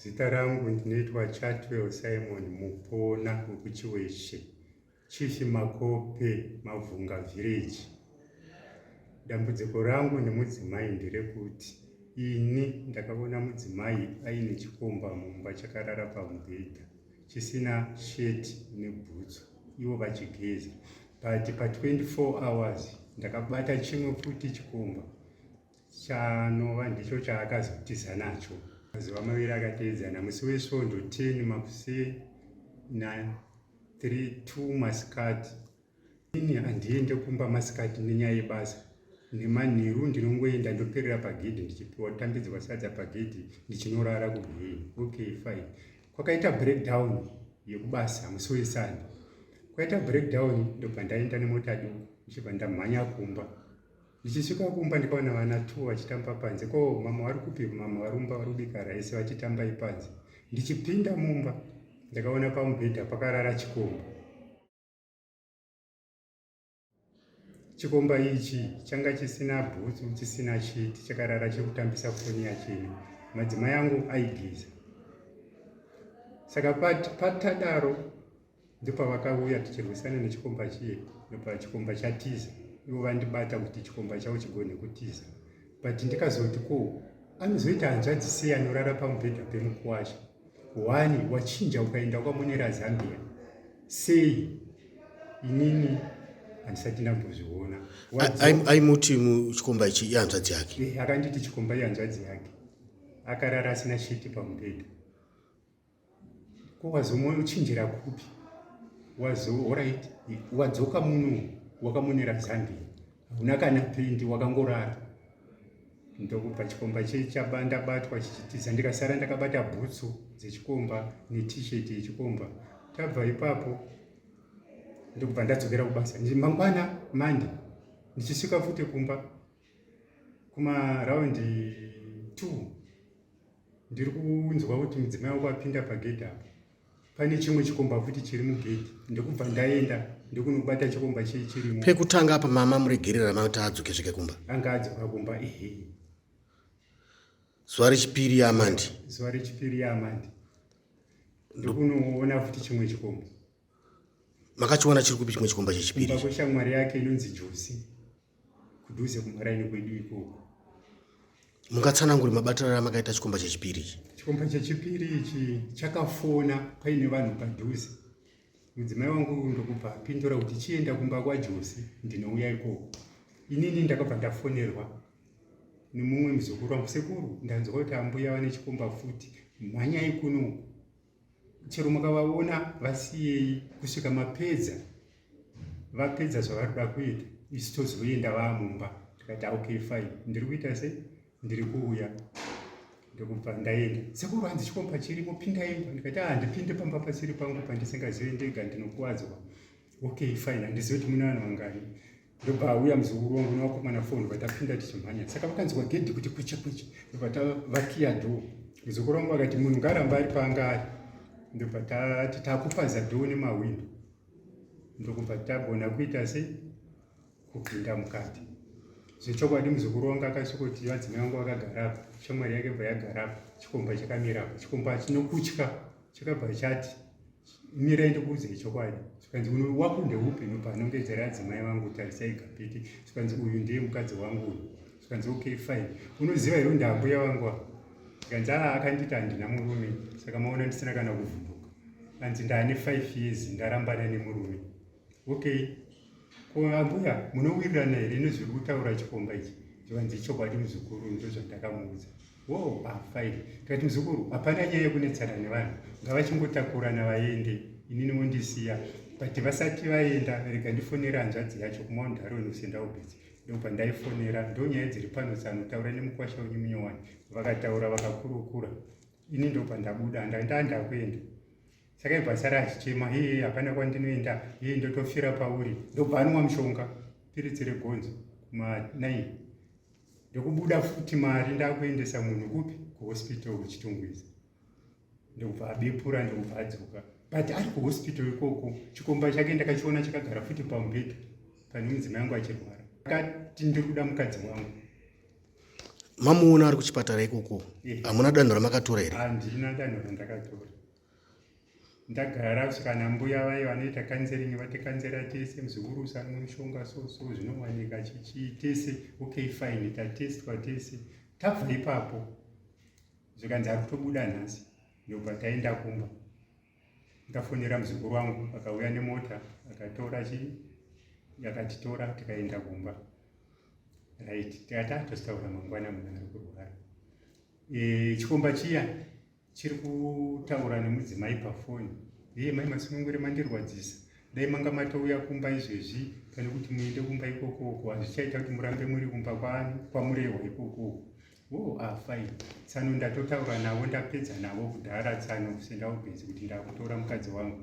Zita rangu ndinoitwa Chatwell Simon Mupona wekuChiweshe, Chief Makope, Mavhunga Village. Dambudziko rangu nemudzimai nderekuti ini ndakaona mudzimai aine chikomba mumba chakarara pamubhedha chisina sheti nebhutsu ivo vachigeza but pa 24 hours ndakabata chimwe futi chikomba chanova ndicho chaakazotiza nacho mazuva maviri akateedzana musi wesvondo 10 makuseni na 32 masikati ini handiende kumba masikati nenyaya yebasa nemanheru ndinongoenda ndoperera pagedhi ndichipiwa tambidzwa sadza pagedhi ndichinorara kugei okay fine kwakaita breakdown yekubasa musi wesani kwaita breakdown ndobva ndaenda nemota duku ndichibva ndamhanya kumba Ndichisvika kumba ndikaona vana two vachitamba panze. Ko mama vari kupi? Mama varumba vari kubika raisi vachitamba ipanze. Ndichipinda mumba ndakaona pamubhedha pakarara chikomba. Chikomba ichi changa chisina bhutsu, chisina shiti, chakarara chiri kutambisa foni yachine. Madzimai angu aigeza. Saka pat, patadaro ndopavakauya tichirwisana nechikomba chiye ndopa chikomba chatiza ivo vandibata kuti chikomba chavo chigone kutiza but ndikazoti ko anozoita hanzvadzi sei anorara pamubhedha pemukuwasha wani wachinja ukaenda kwamonera zambia sei inini handisati ndambozviona aimuti chikomba ichi ihanzvadzi yake eh, akanditi chikomba ihanzvadzi yake akarara asina shiti pamubhedha ko wazomoyo uchinjira kupi wazo orit wadzoka muno wakamonera zambia hauna kana pendi wakangorara ndokubva chikomba chechaba ndabatwa chichitiza ndikasara ndakabata bhutsu dzechikomba netisheti yechikomba tabva ipapo ndokubva ndadzokera kubasa mangwana mande ndichisvika futi kumba kumaraundi 2 ndiri kunzwa kuti mudzimai wako apinda pagedhi apo pane chimwe chikomba futi chiri mugedhi ndokubva ndaenda ndokunobata chikomba chii chirimo pekutanga apa mama muregerera mauti adzoke zvike kumba anga adzoka kumba ehe zuva rechipiri yaamandi zuva rechipiri yaamandi ndokunoona futi chimwe chikomba makachiwana chiri kupi chimwe chikomba chechipiri kumba kweshamwari yake inonzi josi kudhuze kumaraini kwedu ikoko mungatsananguri mabatirano amakaita chikomba chechipiri ichi chikomba chechipiri ichi chakafona paine vanhu padhuze mudzimai wangu ndokubva apindura kuti chienda kumba kwajosi ndinouya ikoko inini ndakabva ndafonerwa nemumwe muzukuru wangu sekuru ndanzwa kuti ambuya vane chikomba futi mhanyai kuno chero mukavaona vasiyei kusvika mapedza vapedza zvavari kuda kuita isu tozoenda vamumba tikati okay fine ndiri kuita sei ndiri kuuya ndokubva ndaenda sekuru hanzi chikomba chirimo pinda imba ndikati a ah, ndipinde pamba pasiri pangu pandisingazive ndega ndinokuvadzwa okay fine handizive kuti mune vanhu vangani ndobva auya muzukuru wangu newakomana foni vatapinda tichimhanya saka vakanzwa gedhi kuti kwicha kwicha ndobva tavakiya dhoo muzukuru wangu akati munhu ngaramba ari paanga ari ndobva tati takupaza dhoo nemahwindo ndokubva tagona kuita se kupinda mukati zvechokwadi muzukuru wangu akasvikoti vadzimai vangu vakagarapo shamwari yake bva yagarapo chikomba chakamirapo chikomba chinokutya chakabva chati mira ndikuudzei chokwadi zvikanzi uno wako ndeupi nopanongedzera adzimai vangu tarisai kapiti zvikanzi uyu ndiye mukadzi wangu uyu zvikanzi okay fine unoziva here ndambuya vangu ava zvikanzi aa akanditi handina murume saka maona ndisina kana kuvhunduka anzi ndaane five years ndarambana nemurume okay ko ambuya munowirirana here nezviri kutaura chikomba ichi zvikanzi chokwadi muzukuru ndozvandakamuudza Wow, I'm fine. Tikati muzukuru, hapana nyaya yekunetsana nevanhu, ngavachingotakurana vaende, inini wondisiya. But vasati vaenda, rega ndifonera hanzvadzi yacho kumaundu haroni usenda ubhizi. Ndopa ndaifonera, ndonyaya dziri pano tsano, taura nemukwasha wenyu munyowani. Vakataura vakakurukura. Ini ndopa ndabuda, ndaenda ndakuenda. Saka ibva sara achichema, hee, hapana kwandinoenda, hee, ndotofira pauri. Ndobva anwa mushonga, piritsi regonzo, kuma 9. ndokubuda futi mari ndakuendesa munhu kupi kuhospital kuchitungwiza ndokubva abepura ndokubva adzoka but ari kuhospital ikoko chikomba chake ndakachiona chakagara futi pamubhedha pane mudzimai yangu achirwara akati ndiri kuda mukadzi wangu mamuona ari kuchipatara ikoko hamuna danho ramakatora here handina danho randakatora ndagara kusvika nambuya vaye vanoita kanzeringi vatikanzera tese muzukuru usanwe mushonga so so zvinowanika chichii tese okay fine tatestwa tese tabva ipapo zvikanzi ari kutobuda nhasi ndobva taenda kumba ndikafonera muzukuru wangu akauya nemota akatora chii yakatitora tikaenda kumba right tikati atostaura mangwana munhu ari kurwara e, chikomba chiya chiri kutaura nemudzimai pafoni heye mai masunungure mandirwadzisa dai manga matouya kumba izvezvi pane kuti muende kumba ikokoko hazvichaita kuti murambe muri kumba kwani kwamurehwa ikokoko o oh, ah, fine tsano ndatotaura navo ndapedza navo kudhara tsano sendaubenzi kuti ndakutora mukadzi wangu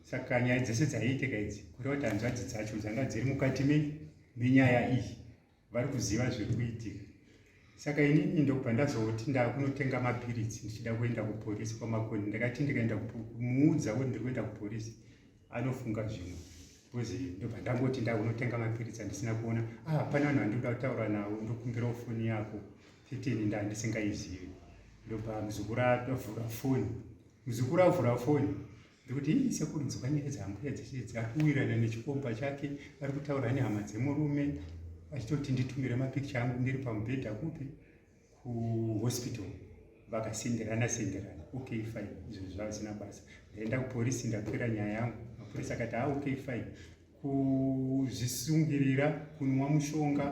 saka nyaya dzese dzaiiteka idzi kureva kuti hanzvadzi dzacho dzanga dziri mukati menyaya iyi vari kuziva zviri kuitika saka inini ndokubva ndazoti ndakunotenga mapiritsi ndichida kuenda kuporisi kwamakoni ndakati ndikaenda kumuudza kuti ndiri kuenda kuporisi anofunga zvimwe bcause ndobva ndangoti ndakunotenga mapiritsi andisina kuona ah pane vanhu vandikuda kutaura navo ndokumbirawo foni yako fitini nda ndisingaizivi ndobva muzukuru avhura foni muzukuru avhura foni Ndokuti hii sekuru nzwa nyaya dzambuya dzese dzakuwirana nechikomba chake ari kutaura nehama dzemurume achitoti nditumire mapikicha angu ndiri pamubhedha kupi kuhospital vakasenderana senderana ok fine izvo zvazina basa ndaenda kuporisi ndapera nyaya yangu mapurisi akati ha ah, ok fine kuzvisungirira kunwa mushonga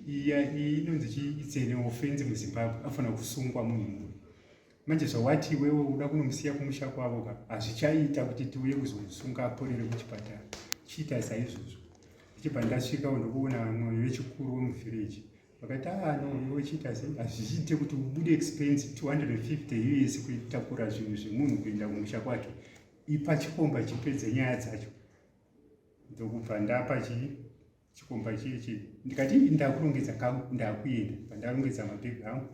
iya inonzi chii itsene ofenzi muzimbabwe afanira kusungwa munhu murume manje zvawati iwewe uda kunomusiya kumusha kwavo ka hazvichaita kuti tiuye kuzomusunga aporere kuchipatara chiita saizvozvo ndichibva ndasvika ndokuona mwoyo vechikuru wemuvhireji vakati ah, no iwe chiita sei hazvichiite kuti ubude expense 250 us kutakura zvinhu zvemunhu kuenda kumusha kwake ipa chikomba chipedze nyaya dzacho ndokubva ndapa chii chikomba chiye chii ndikati ndakurongedza kangu ndakuenda pandarongedza mabhegi angu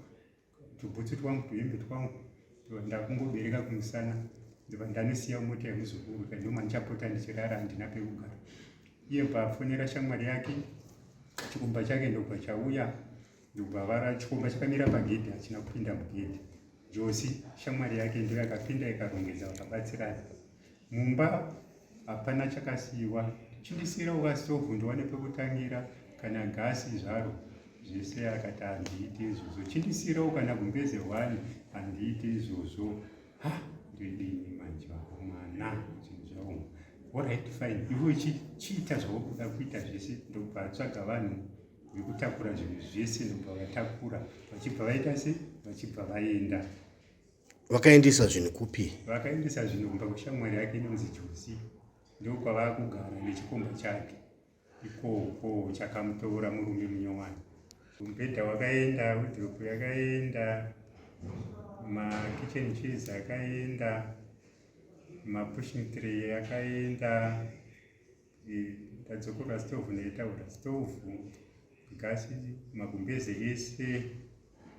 tubhutsu twangu tuhembe twangu ndakungobereka kumusana ndiva ndanosiya mota yemuzukuru kandoma ndichapota ndichirara handina pekugara iye bvafonera shamwari yake chikomba chake ndobva chauya ndobva vara chikomba chakamira pagedhi hachina kupinda mugedhi josi shamwari yake ndiyo yakapinda ikarongedza vakabatsirana Mumba hapana chakasiiwa, chindisiira uka stove ndiwane pekutangira kana gasi zvaro zvese akati handiiti izvozvo, chindisiira ukana gumbeze hwani handiiti izvozvo. Ha, ndidini manje vako mwana zvinhu zvavo orit fine ivo chiita zvaukuda kuita zvese ndobva vatsvaga vanhu vekutakura zvinhu zvese ndobva vatakura vachibva vaita se vachibva vaenda vakaendesa zvinhu kupi vakaendesa zvinhu kumba kushamwari yake inonzi josi ndokwavaa kugara nechikomba chake ikoko chakamutoora murume munyowani mubhedha wakaenda widropu yakaenda makitchen cheese akaenda mapushing tree akaenda tadzokora stove netaura stove gasi magumbeze ese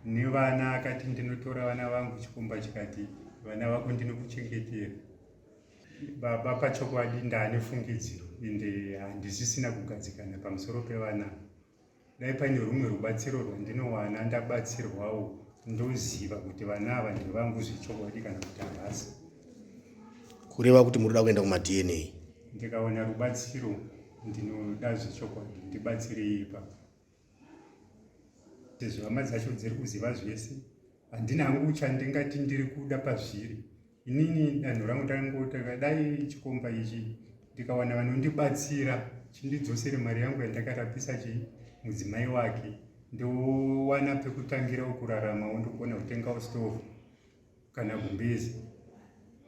nevana akati ndinotora vana vangu chikomba chikati vana vako ndinokuchengetera baba pachokwadi ndaane fungidziro ende handisisina kugadzikana pamusoro pevana dai paine rumwe rubatsiro rwandinowana ndabatsirwawo ndoziva kuti vana ava ndevangu zvechokwadi kana kuti havasi kureva kuti muri kuda kuenda kumadna ndikawana rubatsiro ndinoda zvechokwadi ndibatsirei ipapo sezvo hama dzacho dziri kuziva zvese handina hangu uchandingati ndiri kuda pazviri inini danho rangu takangotanga dai chikomba ichi ndikawana vanondibatsira chindidzosere mari yangu yandakarapisa chii mudzimai wake ndowana pekutangira kurarama wondogona kutengawo stove kana gumbezi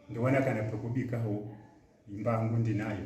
ndowana kana pekubikawo imba yangu ndinayo